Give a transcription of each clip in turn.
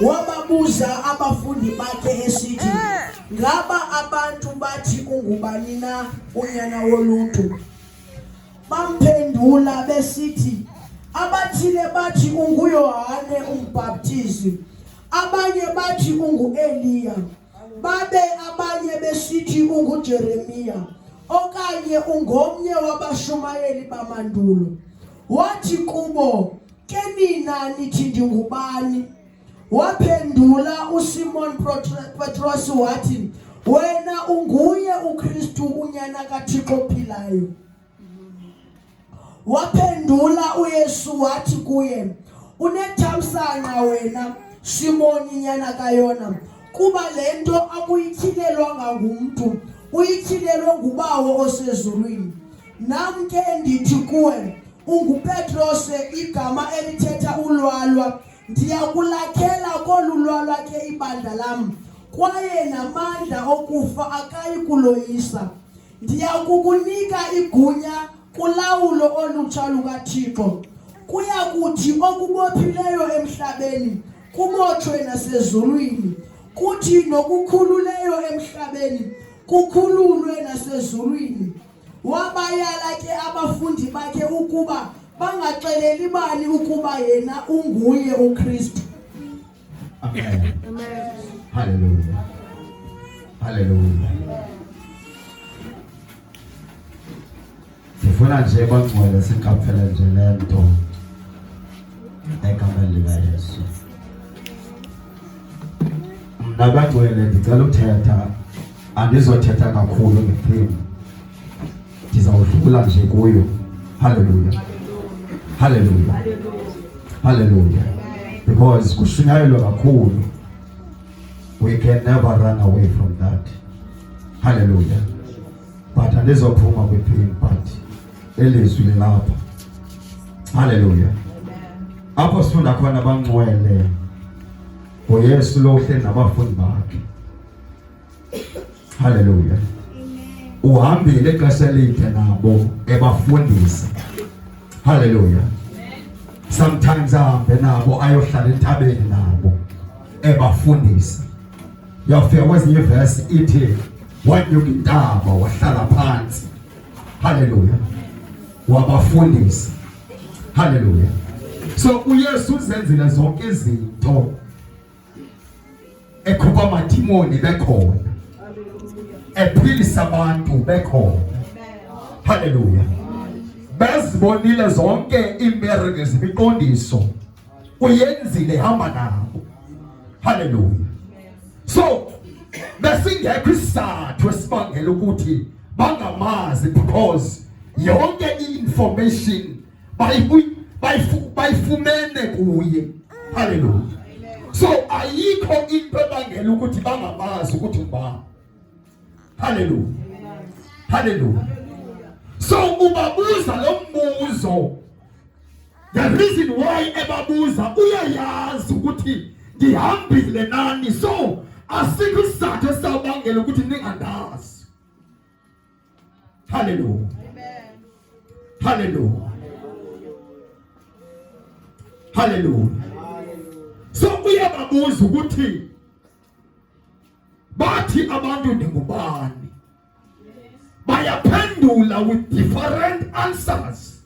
Wababuza abafundi bakhe esithi, Ngaba abantu bathi ungubani na unyana woluntu? Bamphendula besithi, Abathile bathi unguYohane uMbhaptizi, abanye bathi unguEliya. babe abanye besithi ungujeremiya okanye ungomnye wabashumayeli bamandulo wathi kubo ke nina nithi ndingubani waphendula usimon petros wathi wena unguye ukristu unyana kathixo ophilayo Waphendula uYesu wathi kuye, unethamsanqa wena Simoni nyana kayona, kuba le nto akuyithilelwanga ngumntu, uyithilelwe nguBawo osezulwini. Nam ke ndithi kuwe, unguPetrose, igama elithetha ulwalwa. Ndiya kulakhela kolu lwalwa ke ibandla lam, kwaye namandla okufa akayi kuloyisa. Ndiya kukunika igunya kulawulo olutsha lukaThixo. Kuya kuthi okubophileyo emhlabeni kubotshwe nasezulwini, kuthi nokukhululeyo emhlabeni kukhululwe nasezulwini. Wabayala ke abafundi bakhe ukuba bangaxeleli bani ukuba yena unguye uKristu. sifuna nje bangcwele siqaphele nje le nto egameni likayesu mna bangcwele ndicela uthetha andizothetha kakhulu ngethemu ndizawudlula nje kuyo haleluya haleluya haleluya because kushunyayelwa kakhulu we can never run away from that haleluya but andizophuma kwiphini but elizwi lilapha haleluya apho sifunda khona bangcwele ngoyesu lo uhleli nabafundi bakhe Haleluya. Uhambile ixesha elide nabo ebafundisa. Haleluya. Sometimes ahambe nabo ayohlala entabeni nabo ebafundisa. Yafika kwezinye verse ithi wanyuka intaba wahlala phansi. Haleluya. Wabafundisa. Haleluya. So uYesu uzenzile zonke izinto ekhupha amadimoni bekhona ephilisa abantu bekhona haleluya bezibonile zonke iimbereke zemiqondiso uyenzile ihamba nabo haleluya so besingekho isizathu esibangela ukuthi bangamazi because yonke i-information bayifumene kuye. Haleluya! So ayikho into ebangela ukuthi bangamazi ukuthi ngubani. Haleluya, haleluya. So ubabuza lo mbuzo, the reason why ebabuza uyayazi ukuthi ndihambile nani, so asikho isizathu esabangela ukuthi ningandazi. Haleluya, haleluya, haleluya. So uyababuza ukuthi bathi abantu ndingubani, bayaphendula with different answers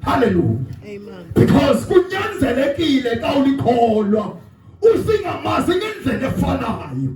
Hallelujah. Amen. Because kunyanzelekile xa ulikholwa usingamazi ngendlela efanayo.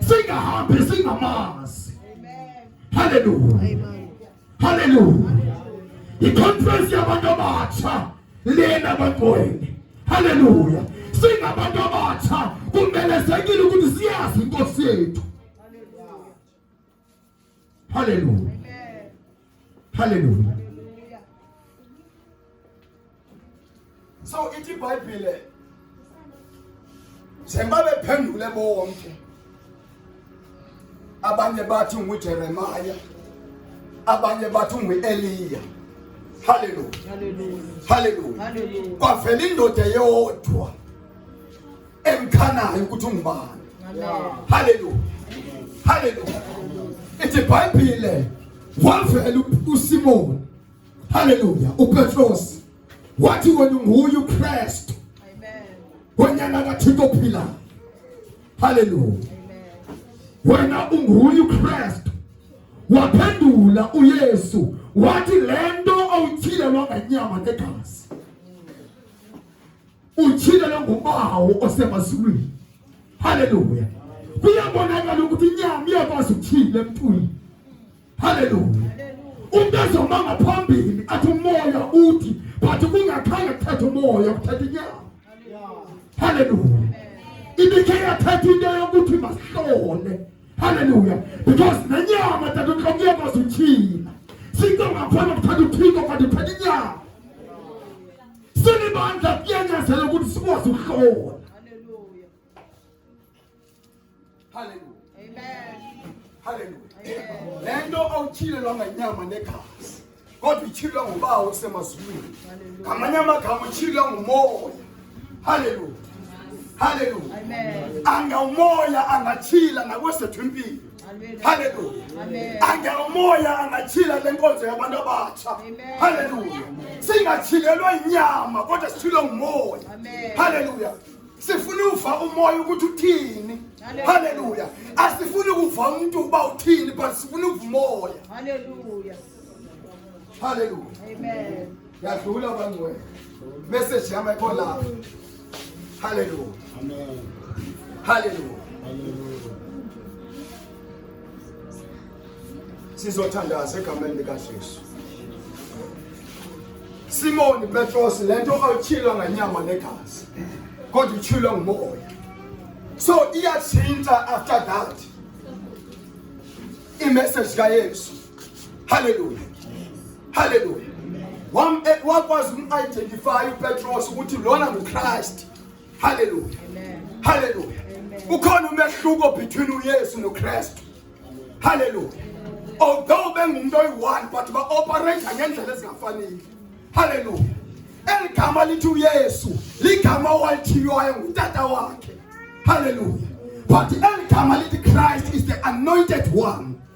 Sing happy, sing mass. Hallelujah. Hallelujah. Iconference yabantu abatsha lena abantweni. Hallelujah. Singabantu abatsha kumelezekile ukuthi siyazi inkosi yethu. Haleluya, haleluya. So ithi iBhayibhile njengoba bephendule bonke abanye bathi nguJeremaya abanye bathi ungu-eliya haleluya haleluya kwavela indoda yodwa emkhanayo ukuthi ungubani haleluya haleluya ithi bhayibhile wavela usimoni haleluya upetros wathi wena unguye ukristu wenyana kathixo ophilayo haleluya wena unguye ukristu waphendula uyesu wathi le nto awutyhilelwa ngenyama negazi Ujile longubawo osemazulwini. Haleluya. Kuyabonakala ukuthi inyama iyakwazi ukuthile emntwini. Haleluya. Umuntu ezoma ngaphambili athi umoya uthi but kungakhange kuthethe umoya kuthethe inyama. Haleluya. Ibikhe yathetha into yokuthi masihlole. Haleluya. Because nenyama tata uqhamuka kwazi uthina. Sinto ngakhona kuthatha uthiko kanti uthatha inyama. sinibandla kuyanyathela ukuthi sikwazi ukuhlola haleluya haleluya amen haleluya le nto awutyhilelwa ngenyama negazi kodwa utyhilelwa ngubawo osemazulwini ngamanye amagama utyhilelwa ngumoya haleluya haleluya angawumoya angatyhila ngakwesethu impilo Haleluya. Angelomoya angatyhila le nkonzo yabantu abatsha. Haleluya. Singatyhilelwa inyama kodwa sithile ngumoya. Haleluya. Sifuna uva umoya ukuthi uthini. Haleluya. Asifuni kuva umuntu uba uthini but sifuna uva umoya. Haleluya. Hallelujah. Amen. Yadlula bangcwele. Message yami ayikho la. Hallelujah. Amen. Hallelujah. Hallelujah. Sizothandaza egameni likaJesu. Simoni Petros lento awuchilwa nganyama negazi. Kodwa uchilwa ngumoya. So iyathinta after that. I message kaYesu. Hallelujah. Hallelujah. Wam eh, wakwazi umidentify uPetros ukuthi lona nguChrist. Hallelujah. Amen. Hallelujah. Ukhona umehluko between uYesu noKristu. Hallelujah. Although bengumuntu oyi-one but ba-operate ngendlela ezingafanele. Hallelujah. Eligama lithi uYesu, ligama owalithiywayo ngutata wakhe. Hallelujah. But eligama lithi Christ is the anointed one.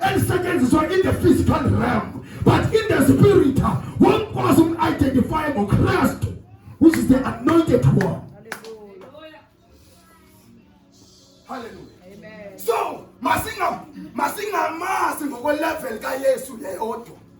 elisetyenziswa in the physical realm but in the spirit womkwazi umidentifye ngokristu which is the anointed one hallelujah so masingamazi ngokwelevel kayesu yeyodwa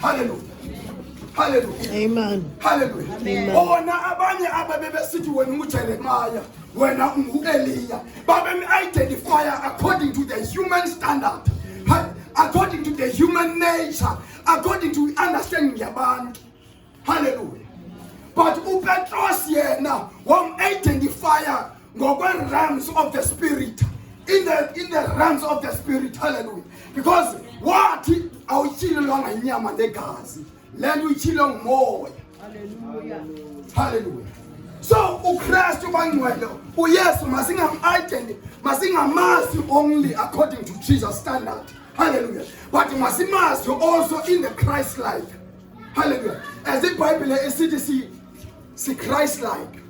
Haleluya. Haleluya. Amen. Haleluya. Amen. Ona abanye ababe besithi wena unguJeremiah, wena unguEliya. Babe identify according to the human standard. According to the human nature, according to understanding yabantu. Haleluya! But uPetros yena wam-identifya ngokwe-realms of the spirit in the, in the realms of the spirit hallelujah because wathi awutyilelwanga inyama negazi le nto uyityilwe ngumoya hallelujah so ukristu bangcwele uyesu masingam-identi masingamazi only according to jesus standard hallelujah but masimazi also in the christ life Hallelujah. As the Bible is it see see Christ like.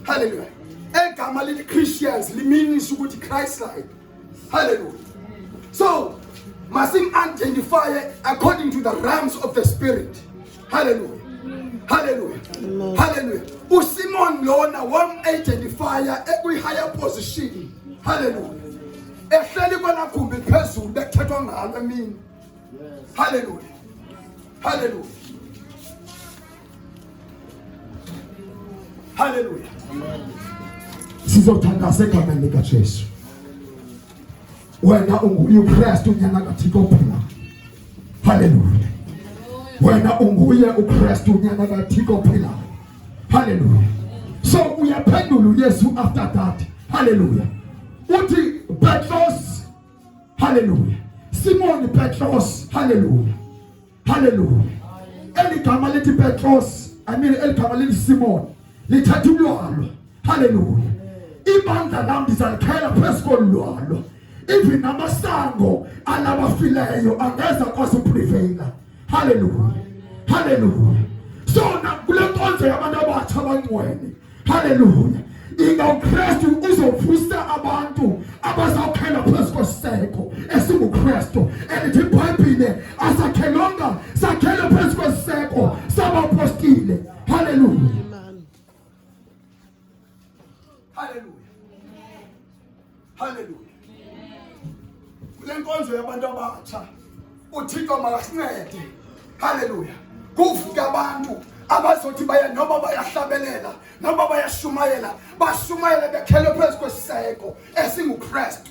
Hallelujah. Egama lithi Christians limeans ukuthi Christ like. Hallelujah. So, masim identify according to the realms of the spirit. Hallelujah. Hallelujah. Amen. Hallelujah. USimon lona wam identify ekwi higher position. Hallelujah. Ehleli kwanagumbi phezulu bekuthethwa ngalo emini. Haleluya, haleluya, haleluya. Sizothandazeka mali kaJesu. Wena unguye uKristu unyana kaThixo phila. Haleluya. Wena unguye uKristu unyana kaThixo phila. Haleluya. So uyaphendula uYesu after that. Haleluya. Uthi Petros Haleluya. Simoni Petros, haleluya, haleluya. Eli gama lithi Petros, I mean eli gama lithi Simoni lithatha ulwalo, haleluya. Ibandla lam ndizalikhela phezu kolu lwalo, even amasango alabafileyo angeza kwazi upriveyila. Haleluya, haleluya. So nakule nkonzo yabantu abatsha abangcwele, haleluya, ingawukristu uzovusa abantu abazawukhela phezu kwesiseko esingukristu elithi ibhayibhile asakhelwanga sakhele phezu kwesiseko sabapostile haleluya Haleluya. Haleluya. Kule nkonzo yabantu abatsha uThixo makasincede. Haleluya. Kuvuke abantu abazothi baya noba bayahlabelela noba bayashumayela bashumayele bekhele phezu kwesiseko esinguKristu.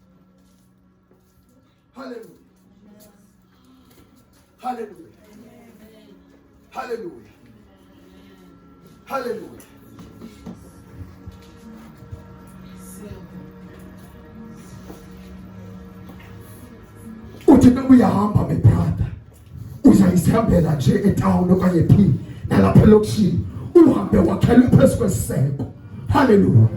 Haleluya, haleluya, haleluya, haleluya. uthi ubuyahamba bebrada uzayisihambela nje etawuni okanye phi nalapha elokishini uhambe wakhelwe phezu kwesiseko haleluya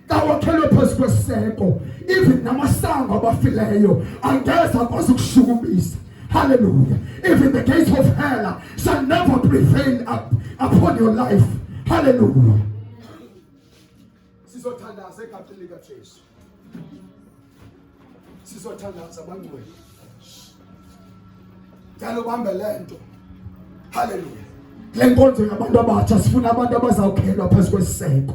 kawakhelwe phezu kweseko even namasango abafileyo angeza akwazi ukushukumisa hallelujah even the gates of hell shall never prevail up upon your life hallelujah sizothandaza egameni likajesu sisi wathandaza bangcwele ndicela ubambe le nto halleluya le nkonzo yabantu abatsha sifuna abantu abazawukhelwa phezu kwesiseko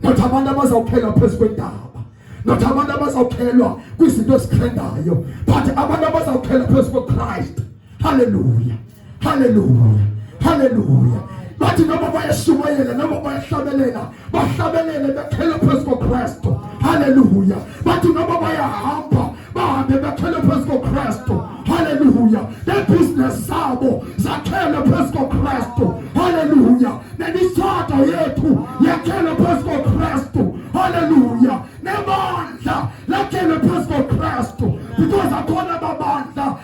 not abantu abazawukhelwa phezu kwentaba not abantu abazawukhelwa kwizinto ezikhendayo but abantu abazawukhelwa phezu kwechrist halleluya haleluya haleluya bathi noma bayashumayela noma bayahlabelela bahlabelele bekhele phezu kokristu haleluya bathi noma bayahamba bahambe bekhele phezu kokristu haleluya nebhizinesi zabo zakhele phezu kokristu haleluya nemitshato yethu yakhele phezu kokristu haleluya nebandla lakhele phezu kokristu because akhona babandla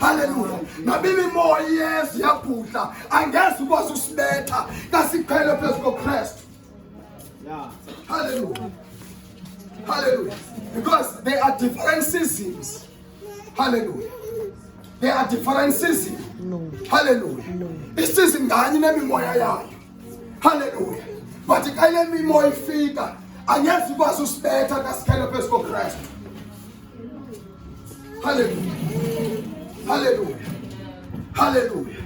Haleluya. Na mimi moya Yesu yaputla angeze ukwazi usibetha kasikhwele phezu koKristu. Yeah. Hallelujah. Hallelujah. Because there are different seasons. Hallelujah. There are different seasons. No. Hallelujah. No. Isizini nganye nemimoya yayo. Hallelujah. But xa le mimoya ifika angeze ukwazi usibetha kasikhwele phezu koKristu. Haleluya. Haleluya. Haleluya.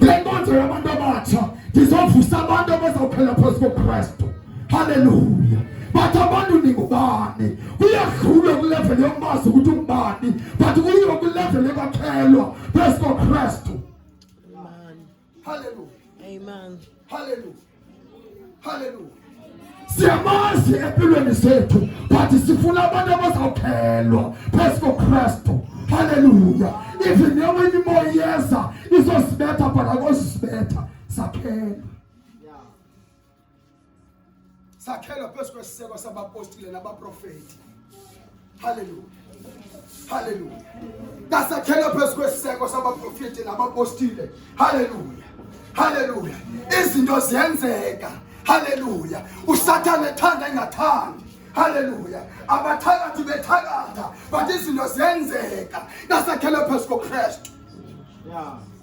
Lenkonzo yabantu abatsha ndizovusa abantu abazawuphela phezu koKristu. Haleluya. But abantu ningubani? Kuyadlula kulevel yomazi ukuthi ungubani, but kuyiwa kulevel yokakhelwa phezu koKristu. Haleluya. Amen. Haleluya. Haleluya. Siyamazi empilweni zethu but sifuna abantu abazawukhelwa phezu koKristu. Haleluya. Even yoba imimoya iyeza izosibetha but akosibetha sakhelwa. sakhelwa phezu kwesiseko sabapostile nabaprofeti halleluya halleluya kasakhelwa phezu kwesiseko sabaprofeti nabapostile halleluya halleluya izinto ziyenzeka halleluya usathane ethanda engathandi halleluya abathakathi bethakatha but izinto ziyenzeka kasakhelwa phezu kokristu yeah.